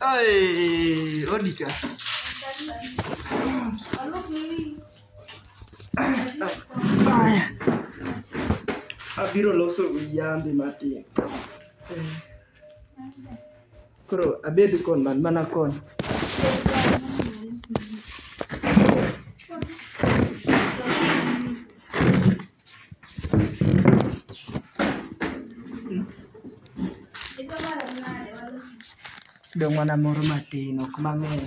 Ay, Onika. Ay. Abiro loso yambe matin. Koro abed kon man mana kon. Dong' mana moro matin ok mang'eny.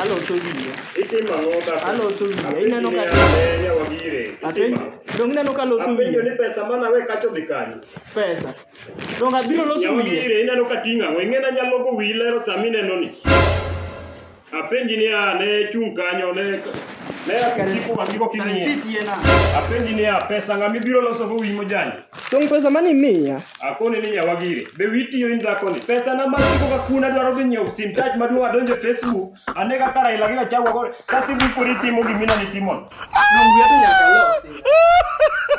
Aloso wiye. Aloso wiye. Ineno ka apenj dong ineno ka aloso Apenjo wiye. ni pesa mana we kacho dhi kanye. Pesa. Dong abiro loso Yawa wiye. gire ineno ka ting'a. Wengena nyalo go wi lero sami neno ni. Apenji ni a ne chung' kanyo ne ne akiko wang'i go king'iye. Apenji ni a pesa ng'ama ibiro loso go wiyi mojany. Tong' pesa mane imiya? Akoni ni yawa gire. Be wiyi tiyo in dhakoni? Pesa na masiko ka kuna dwaro dhi nyiewo sim touch maduong' adonje Facebook. Ane kaka Raila gi Gachagua gore. Ka simu ikori timo gimina ni timo. Dong' wiya to nyaka losi.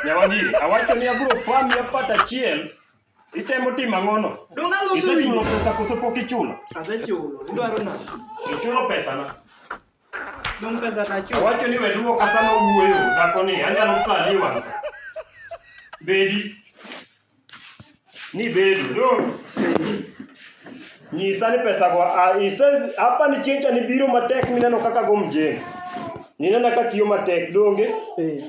Yawa gire. Awacho ni abiro pami apata achiel. Itemo timo ang'ono? Donge aloso Isechulo winyo? pesa koso pok ichulo? Asechulo. Idwaro nade? Ichulo pesa na. Donge pesa nachulo? Owacho ni we duoka sama owuoyo dhako ni anyalo kali wang'. Bedi. Ni bedo do. Nyisa ni pesa go a ise hapa ni chencha ni biro matek mineno kaka go mjengo. Ninena ka tiyo matek donge Eh.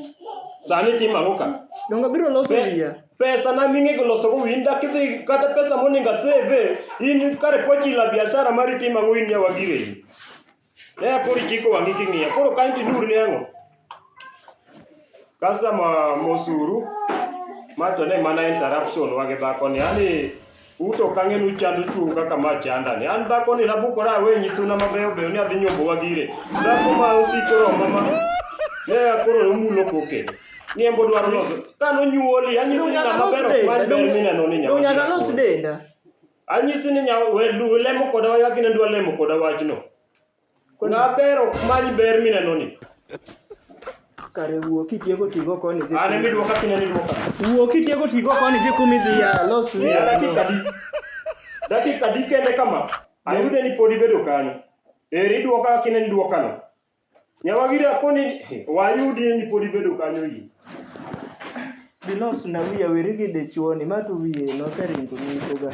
sani timo ang'o ka? Donge abiro loso Be- wiya? pesa na ming'e goloso go in dak idhi kata pesa moningo aseve in kare pochila biashara mari timo ang'o in nyawagire in ne koro ichiko wang'i king'iya koro kanyo tinur ne ang'o customer mosuru ma to ne mana interruption wage dhako ni yani U to ok ang'e ni uchando chwou kaka ma chanda ni. An dhakoni nabukora awe nyi suna mabeyo beyo ni adhi nyombo wagire. Dhako ma osiko romba ma ne akoro nomulo koke. Niembo dwaro loso. Ka nonyuoli anyisi ni ng'ama ber ok many ber mineno ni nyama. Nyaka los denda. Anyisi ni nyama we du lemo koda wach gine dwa lemo koda wachno. Kuna ber ok many ber minenoni. Kare wuo kitieko tigo koni dhi. An ema iduoka kineno iduoka. Wuo kitieko tigo koni dhi kuma idhi ya los. Miya dakika adi? Dakika adi kende kama? Ayude ni pod ibedo kanyo. Eri iduoka kineno iduokano. Nyawagiri akoni wayudi ni pod ibedo kanyo yie. Bilos na wiya weri gi dichuoni ma to wiye noseringo nikoga.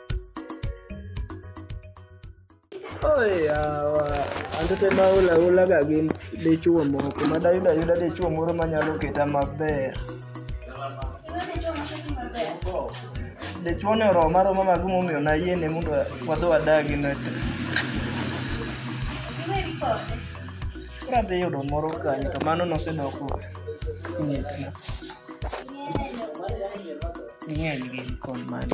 Oyawa, anto te ma hula hula ga gin dichuo moko, ma dayudo ayuda dichuo moro ma nyalo keta maber. Dichuo ni oroma aroma ma gimomiyo nayiene mondo wadhi wadagi ne to. Koro adhi yudo moro kanyo to mano nosedoko ng'etna. Ging'eny gin kod mani.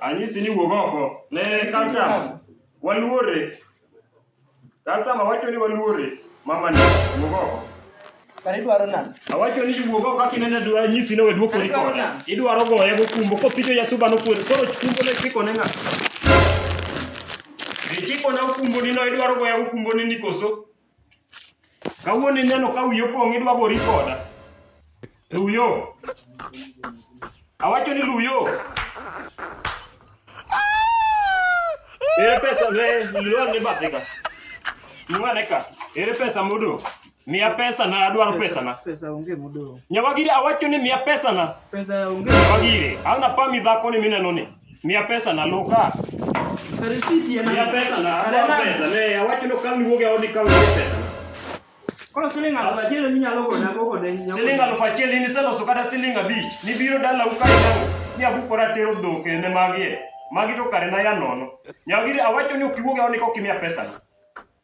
Anyisi ni wuog oko ne customer. Waluore. Customer wacho ni waluore. Mama ni wuog oko. Kare idwaro nani? Awacho ni wuog oko kaka ineno dwa nyisi ni wedwo kori kode. Idwaro goye go kumbo kopito ya suba no kuodo. Koro kumbo ne kiko ne ng'a. Ichiko na kumbo ni no idwaro goya kumbo ni nikoso. Kawuono ineno ka wiyo pong' idwa gori koda. Luyo. Awacho ni luyo. Ere pesa be luyo ni bathe ka. Mwane ka. Ere pesa modong'? Miya pesa na adwaro pesa na. Pesa onge modong'. Nyawagire awacho ni miya pesa na. Pesa onge. Nyawagire. An apami dhako ni mineno ni. Miya pesa na loka. Risiti en Miya pesa na Are akwa nade? pesa. Ne awacho no kang' iwuog e odi kang' miya pesa. Koro siling aluf achiel minyalo gona go kode nyako. Siling aluf achiel in iseloso kata siling abich. Nibiro dala ukae nango. Ni abukora tero dhok ne magi e. Magi to kare na ya nono. Nyagiri awacho ni ok iwuog e odi kok imiya pesa na.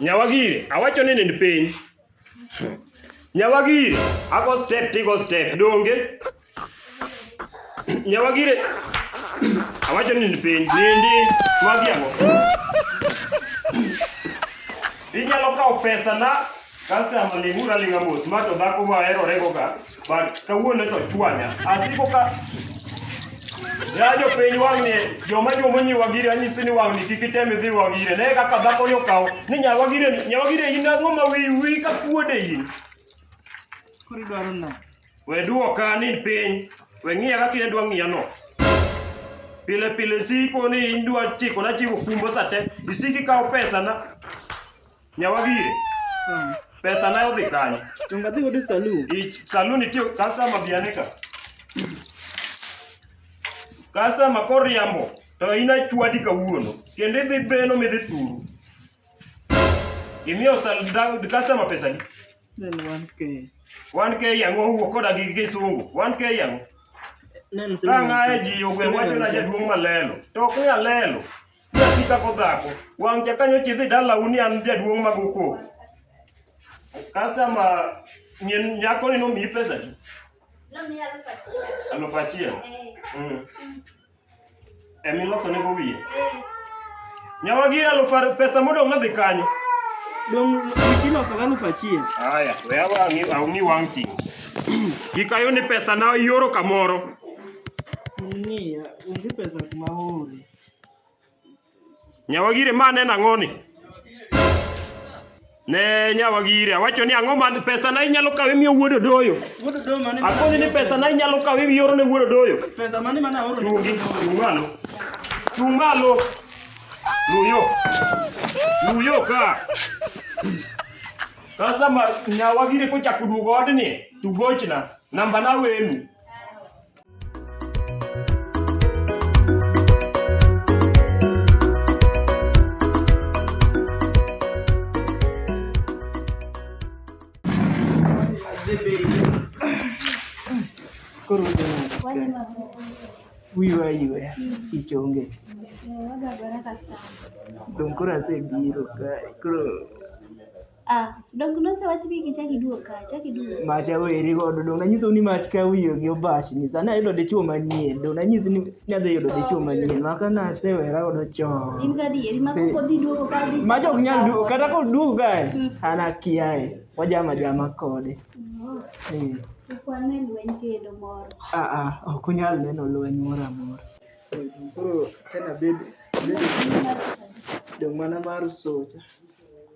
Nyawagire, awacho ni nind piny. Nyawagire, ago step tigo step, donge? Nyawagire, awacho ni nind piny, nindi, magi ang'o? Inyalo kawo pesa na Customer ling'ura ling'a mos, ma to dhako ma aherorego ga, but kawuono to ochwanya. Asiko ka ya jopiny wang'ni joma joma nyi wagire anyisi ni wang'ni kik item idhi wagire ne kaka dhako ni okawo ni nya wagire ni nya wagire in ang'o ma wiyi wiyi ka kuode in Koro idwaro no. we duoka ni piny we ng'iya kaka in dwa ng'iya no pile pile siko ni in dwa chiko na chiwo kumbo sate isiki kawo pesa na Nyawadie, pesa na odhi kanye? Donga dhi godo e saloon. I saloon itiyo customer bi ane ka. Customer koriambo to in achwadi kawuono kendo idhi beno midhi turu. Imiyo sal da- customer pesa ni. Nen 1k. 1k yango owuok koda gi kisungu. 1k yango. Nen Ka ng'aye ji ogwe wacho na jaduong' malelo. To ok ni alelo. Nyathi dhako dhako, wang' cha kanyo chidhi dala uni an jaduong' mag uko. Kasama nyen nyako ni nomiyi pesa di? Nomiya aluf achiel. Aluf achiel. Eh. Mm. Emi loso ne go wiye. Eh. Nyawa gi aluf ar- pesa modong' nadhi kanyo. Dong iloso gi aluf achiel. Haya, we awa ang'i ang'i wang' simu. Gikayo ni pesa na ioro kamoro. Ni onge pesa kuma ore. Nyawagire ma neno ang'oni? Ne Nyawagire, awacho ni ang'o man pesa na inyalo kawe miyo wuod odoyo. Wuod Odoyo mane ma- Akoni ni pesa na inyalo kawe miyo ne wuod odoyo. pesa mane mana oro ni Chungi, chung malo. Chung malo. Luyo. Luyo ka. Sasa ma nyawagire kochako duogo odni, tugochna. Namba na wenu. Koro wiwa iwe ich onge. Donge koro asebiro kae koro Ah, dong nosewach ni kichak iduog ka, chak iduog. Mach aweri godo, dong nanyisou ni mach ka wiye gi obash ni sani ayudo dichwo manyien, dong nanyisi ni nadhi yudo dichwo manyien, maka nasewera godo chon. In gadieri, ma Eh. koko dhi duogo ka dhi. Mach ok nyal duogo, kata koduogo kae, Mm. an akiaye, wajama jama kode. Oh, Eh. Ukwane lweny kendo moro. Ah, ah, ok unyal neno lweny moro amora. Koro tena bed, bed dong' mana mar soja.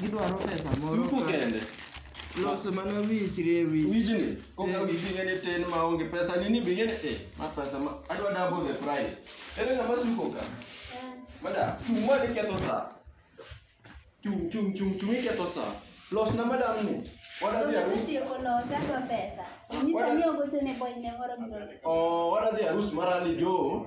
gidwaro pesa moro Suko ka- kende. loso mana wich rie wich Wijni, koka Eh. wiji ng'e ni tin ma onge pesa ni ni bing'e ni eh, ma pesa ma adwa double the price. Ere ng'ama suko ka? Madam, chung' ma iketho sa. Chung' chung' chung' chung' iketho sa. Los na madam ni. Wadwa dhi arus. Setieko losa adwa pesa. Nyisa ni ogocho ne boy ne moro biro. Oh, wadwa dhi arus mar Ali Joe.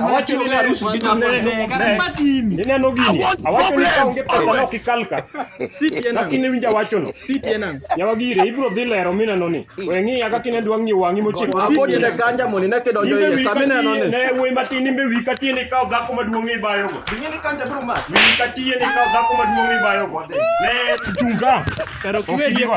Awacho ni harusi gi nyako. Ineno gini. Awacho ni ka onge pesa no kikalka. Lakini winja wachono. Yawa gire ibro dhi lero mineno ni. We ng'iya kaka inendo wang'i wang'i mochiko. Apodi ne ganja moni ne kedo jo iye sami neno ni. Ne wuoyi matin imbe wi ka tiende ikawo dhako maduong' ibayogo. Wi ka tiende ikawo dhako maduong' ibayogo. Ne chunga. Kero kiwe dieko.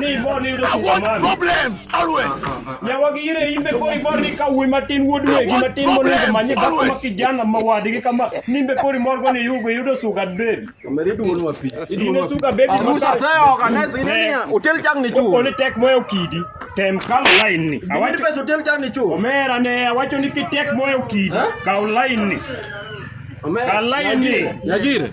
ni ibor ni yudo superman problems always nyawagi ire imbe koro ibor ni ka wuoyi matin wuod wegi matin monego manye dhako ma kijana ma wadgi kama nimbe koro imor go ni yugo yudo sugar baby Omeri duon wa pi. ine sugar baby Arusa maka- sasa organize ile ni hotel chang ni chuo. Ole tek moyo kidi tem kaw line ni Awinjo awacho pesa hotel chang ni chuo. omera ne awacho ni kitek moyo kidi kaw line ni Omeri. kaw line ni Nyagire.